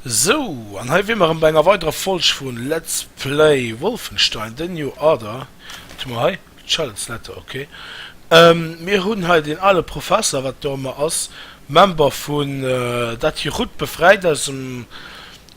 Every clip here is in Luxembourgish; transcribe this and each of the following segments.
Sou, an hei wier mer erëm bei enger weiderer Folg vu Let's Play Wolfenstein, The New Order. Wat hu mer hei? Charlotte's Letter, ok. Mir hunn hei deen ale Professer, wat do ëmmer ass, Member vun dat hir Rutt befräit aus dem,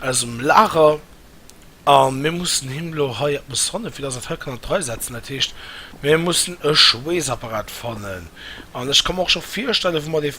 aus dem Lager. A mir mussen him elo hei eppes fannen, fir dass en dat hei kann an d'Rei setzen. Dat heescht, mir mussen e Schweessapparat fannen. An ech ka mer och scho virstellen, wou mer dee.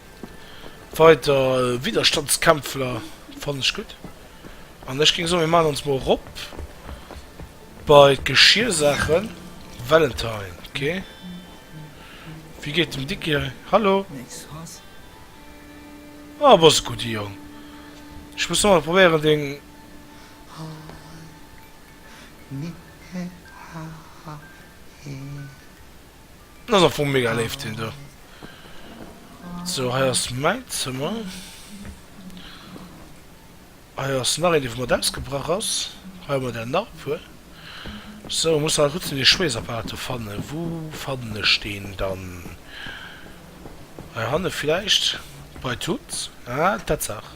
Weider Widderstandskämpfler fannen ech gutt an ech géing soen mir maan ons mol rop bei d'Geschiersaachen. Valentine ok wéi geet dem Dicky hei? Hallo ah bass e gudde Jong ech muss nach mol probéieren deng Dat ass am Fong mega léif, deen do. Sou, hei ass mäin Zëmmer. Hei ass nach een, dee vu mat ausgebrach ass. Hei hu mer der nach e puer. Sou, ech muss nach kucke, dee Schweessapparat do fannen. Wou fannen ech deen dann? Hei hanne vläicht? Bei Tut? Ah, Tatsaach!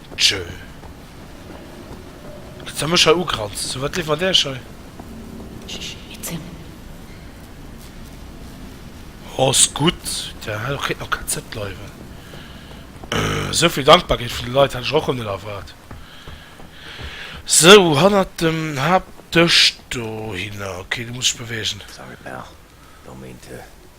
Tjö. Kritt se mech hei ugranzt, sou wat liwwert Äech hei? Ssss, et sinn. Ass gutt, der Halo kritt nach KZ bleiwen. Sou vill Dankbarkeet vun de Leit hat ech och rem net erwaart. Sou, hannert dem Haaptdësch dohinner, ok, do muss ech beweegen. Sorry Pal, do meent e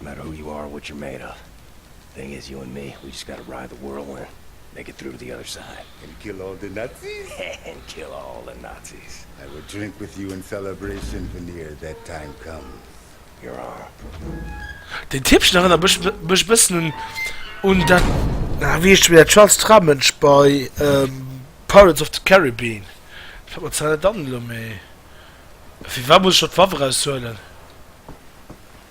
No matter who you are or what you're made of The thing is, you and me, we just gotta ride the whirlwind Make it through to the other side And kill all the Nazis? And kill all the Nazis I will drink with you in celebration Veneer that time comes Your arm. Den Tippchen erënnert mech mech e bëssen un un dat. Ah wéi heescht de Méier Charles Tramëntsch bei Pirates of the Caribbean? Fält mer zwar net an elo, mee firwat muss ech do d'Waff eraushuelen?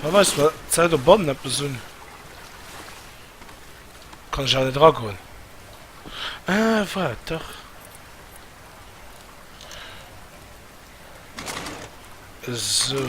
Fir weist mer d'Säit op bannen eppes un. Kann ech awer net eragoen. Ah waart dach. Esou.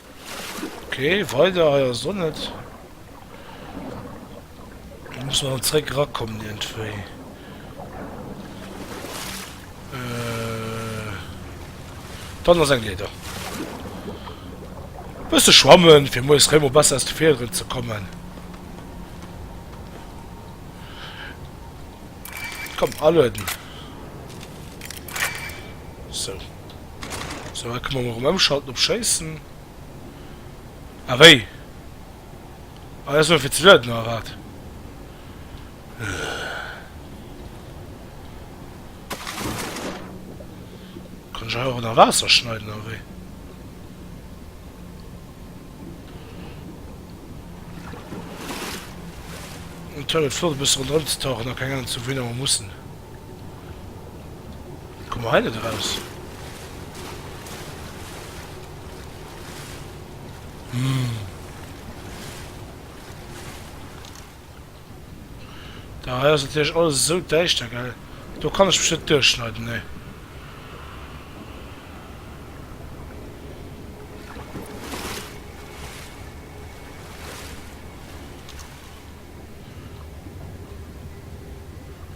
Ok weider hei ass och net. Do muss mer zeréck rakommen iergendwéi. Dann ass eng Leeder. Bësse schwammen fir moies réi mol besser aus de Fiederen ze kommen. Komm alueden. Sou. Sou hei kënne mer erëm ëmschalten op schéissen. Ah wéi? Ah dat ass nëmme fir ze lueden oder wat? Kann ech hei och ënner Waasser schneiden oder wéi? Natierlech flott e bësse ronderëm ze tauchen a keng Ahnung ze hu wéi nach mer mussen. Komme mer hei net eraus? Hm. Da hei ass natierlech alles esou däischter, gell? Do kann ech mech net duerchschneiden, nee.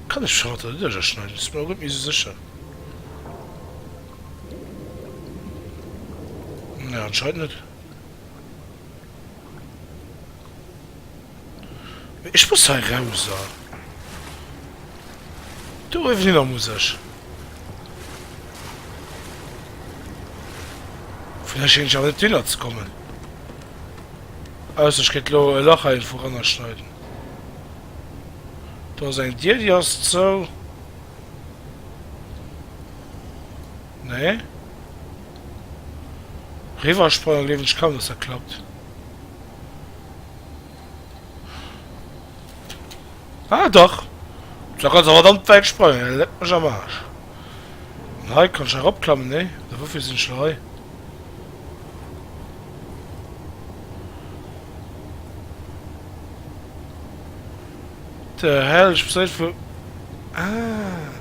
Kann ech d'Charlotte net ënner schneiden? Sinn mer och net méi esou sécher. Nee, anscheinend net. Mee ech muss hei raus a do eriwwer muss ech. Vun hei schéngen ech awer net eriwwer ze kommen. Ausser ech kéint lo e Lach heienvun rannerschneiden. Do ass eng Dier, déi ass zou. Nee. Riwwersprange gleewen ech kaum, dass dat klappt. Ah dach! Da kann se verdammt wäit sprangen. Leck mech am Aarsch. An hei kann ech eropklammen? Nee. Da woufir sinn ech lo hei? The hell, ech besäit vu. Ah.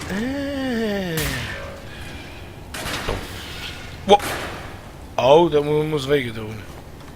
Eh. Wow. Au, dat muss wéi gedoen.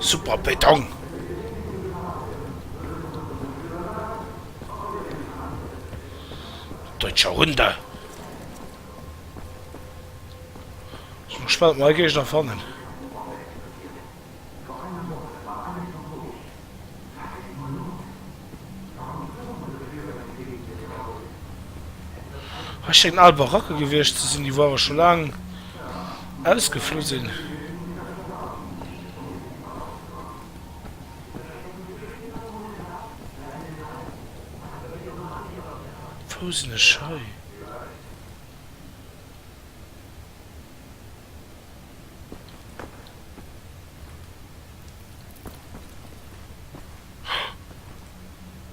Super Béton! Deutscher Hunde! Sinn gespannt, ob mer e Géigner fannen. Ech schéngen al Baracke gewiescht ze sinn, déi wou awer scho laang ausgeflu sinn. Wou sinn ech hei?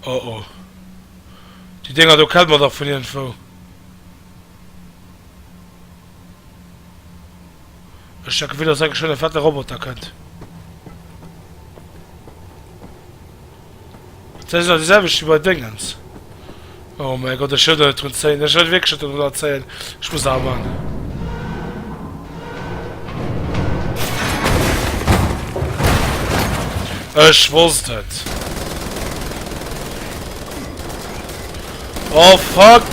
Oh oh. Die Dinger do kennt man doch von irgendwo. Ech denke wieder dass enke schon en fette Roboter kennt. Dat ass nach déi selwecht wéi bei Déngens. Oh mäi Gott, ech hëlt der net drun zéien. Ech hëlt wierklech net drun dran zéien. Ech muss nach am An. Ech wosst et. Oh fuck!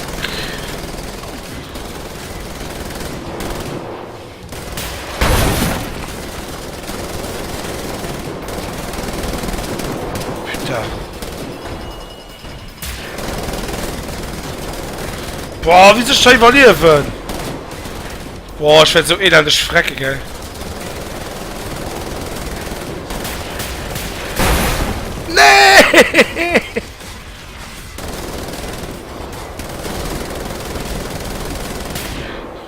Boah, wie soll ich da überleben? Boah, ich werde so elendig frecken, gell? Nee!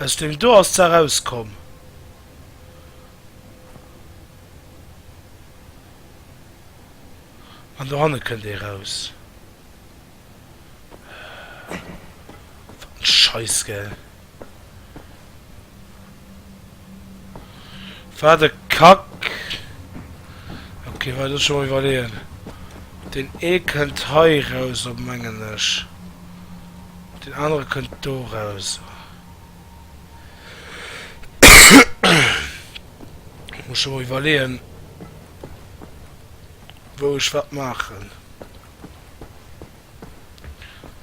Aus dem do ass d'Saach rauskomm. An dohanne kënnt ee raus. Wat en Scheiss, gell! War de Kack. Ok war dat schon iwwerleeën. Den ee kënnt hei raus op mengen ech. Den anere kënnt do raus. Muss schon iwwerleeën wou ech wat maachen.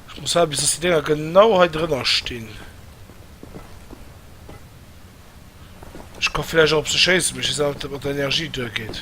Ech muss haten bis dass déi Dénger genau hei drënner stinn. Ech ka vläicht och op se schéissen, mee ech weess awer net, ob dat mat der Energie duergeet.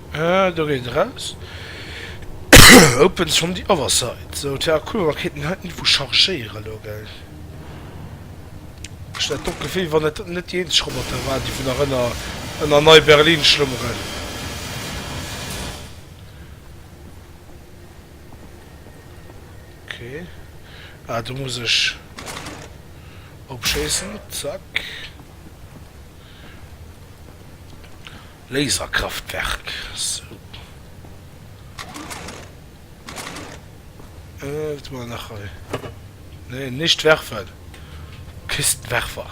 Ah, do geet et eraus. Opens from the other side. So, tja cool, mer kéinten hei d'Niveau chargéieren elo, gell. Ech hat och d'Gefill, wann et net déi eenzeg Roboter waren, déi vun nach ënner ënner Neiberlin schlummeren. Okay. Ah, do muss ech opschéissen. Zack. Laserkraftwerk, sou. Wat hu mer nach hei? Nee, nicht werfen. Kistenwerfer.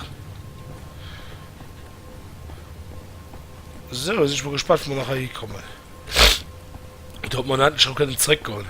Sou, sinn ech mol gespannt, wou mer nach hei hikommen. Oder ob mer endlech erëm kënnen zréckgoen.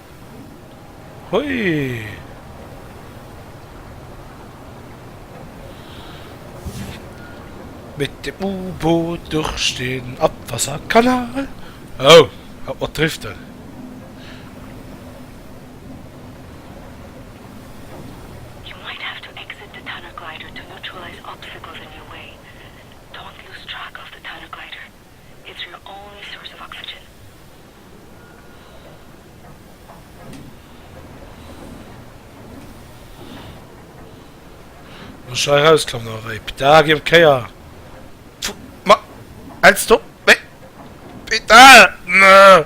Mit dem U-Boot durch den Abwasserkanal. Oh, haut mat driften. Muss scho erauskommen a wéi Petar gi op Kéier. Fu ma hältst op wéi Petar ne.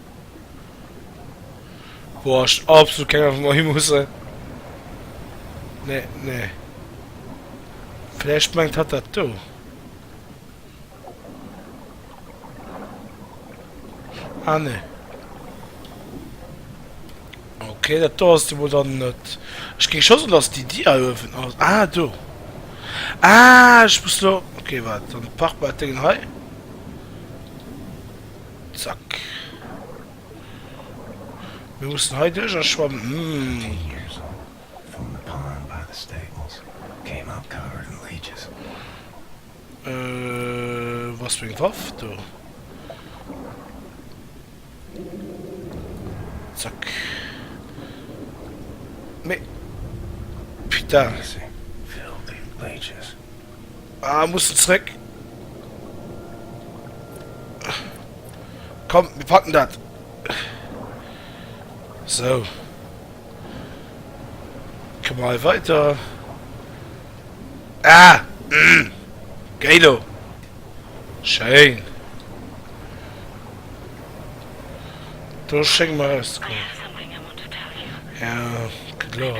Boah, ich absolut keine Ahnung, wo wir hin müssen. Nee, nee. Vielleicht meint hat das da. Ah, nee. Okay, das da ist wohl dann nicht. Ich ging schon so, dass die Dia öfen aus. Ah, du. Ah, ich muss da. Okay, warte, dann pack mal das Ding hier. Zack. Mir mussen hei duerch a schwammen. Ah, mussen zréck. Komm, mir packen dat. So. Komm mal weiter. Ah! Mm. Geilo. Schein. Du schenk mal aus. Ja, klar.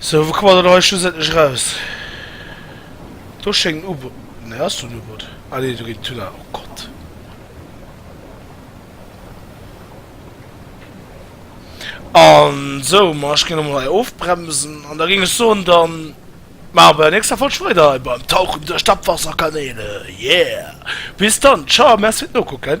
Sou, wou kommen mer dann hei schlussendlech eraus? Do schéngt en U-Boot, nee, ass do en U-Boot? Ah nee, do geet den Tunnel, oh Gott. An sou, ma ech géing elo mol hei ofbremsen an da géing ech soen, dann maache mer bei der nächster Folg weider hei beim Tauchen duerch d'Abwasserkanäle, yeah! Bis dann, ciao, merci fir d'Nokucken.